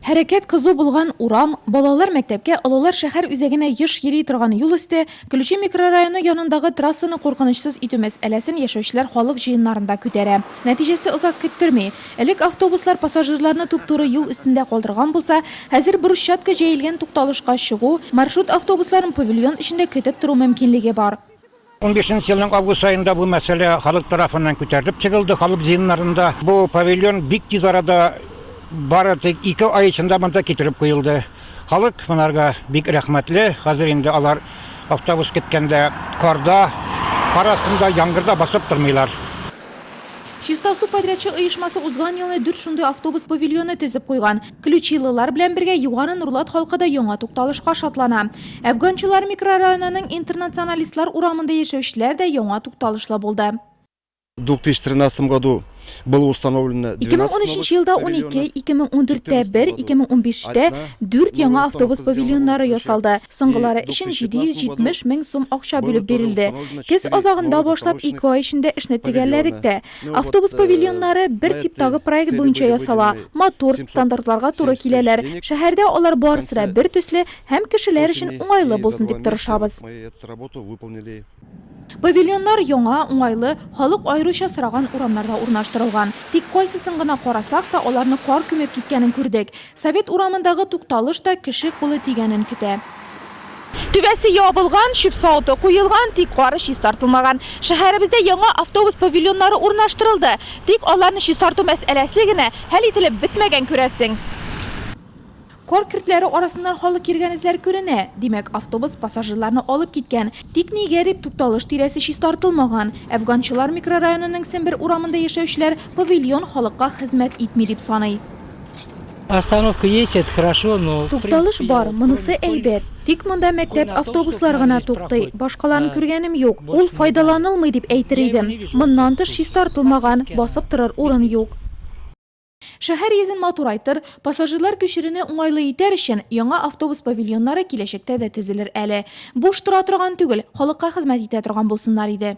Хәрәкәт кызу булган урам, балалар мәктәпкә, олылар шәһәр үзәгенә еш йөри торган юл өсте, Ключи микрорайоны янындагы трассаны куркынычсыз итү мәсьәләсен яшәүчеләр халык җыеннарында күтәрә. Нәтиҗәсе озак көттерми. Элек автобуслар пассажирларны туп-туры юл өстендә калдырган булса, хәзер брусчатка җәелгән тукталышка чыгу, маршрут автобусларын павильон эчендә көтеп тору мөмкинлеге бар. 15 нче елның август аенда бу мәсьәлә халык тарафыннан күтәрелеп чыгылды, халык җыеннарында. Бу павильон бик тиз арада бары тик ике ай эчендә монда китереп куелды. Халык монарга бик рәхмәтле. Хәзер инде алар автобус көткәндә карда, кар астында, яңгырда басып тормыйлар. Чиста су подрядчы оешмасы узган елны дүрт шундый автобус павильоны төзеп куйган. Ключилылар белән бергә Югары Нурлат халкы да яңа тукталышка шатлана. Әфганчылар микрорайонының Интернационалистлар урамында яшәүчеләр дә яңа тукталышлы булды. 2013 году было установлено 12 новых павильонов. 2013 елда унике, 2014 тә бер, 2015 тә дүрт яңа автобус павильоннары ясалды. Соңгылары өчен 770 мең сум акча бүлеп бирелде. Көз азагында башлап ике ай эчендә эшне төгәлләдек тә. Автобус павильоннары бер типтагы проект буенча ясала, матур, стандартларга туры киләләр. Шәһәрдә алар барысы да бер төсле һәм кешеләр өчен уңайлы булсын дип тырышабыз. Павильоннар яңа, уңайлы, халык аеруча сораган урамнарда урнаштырылган. Тик кайсысын гына карасак та, аларны кар күмеп киткәнен күрдек. Совет урамындагы тукталыш та кеше кулы тигәнен көтә. Түбәсе ябылган, чүп савыты куелган, тик кары чистартылмаган. Шәһәребездә яңа автобус павильоннары урнаштырылды, тик аларны чистарту мәсьәләсе генә хәл ителеп бетмәгән, күрәсең. Кар көртләре арасыннан халык йөргән эзләр күренә, димәк, автобус пассажирларны алып киткән. Тик ни гарип, тукталыш тирәсе чистартылмаган. Әфганчылар микрорайонының Сембер урамында яшәүчеләр павильон халыкка хезмәт итми дип саный. Остановка есть, это хорошо, но. Тукталыш бар, монысы әйбәт. Тик монда мәктәп автобуслар гына туктый, башкаларын күргәнем юк. Ул файдаланылмый дип әйтер идем. Моннан тыш чистартылмаган, басып торыр урын юк. Шәһәр йөзен матурайтыр, пассажирлар күчерүне уңайлы итәр өчен, яңа автобус павильоннары киләчәктә дә төзелер әле. Буш тора торган түгел, халыкка хезмәт итә торган булсыннар иде.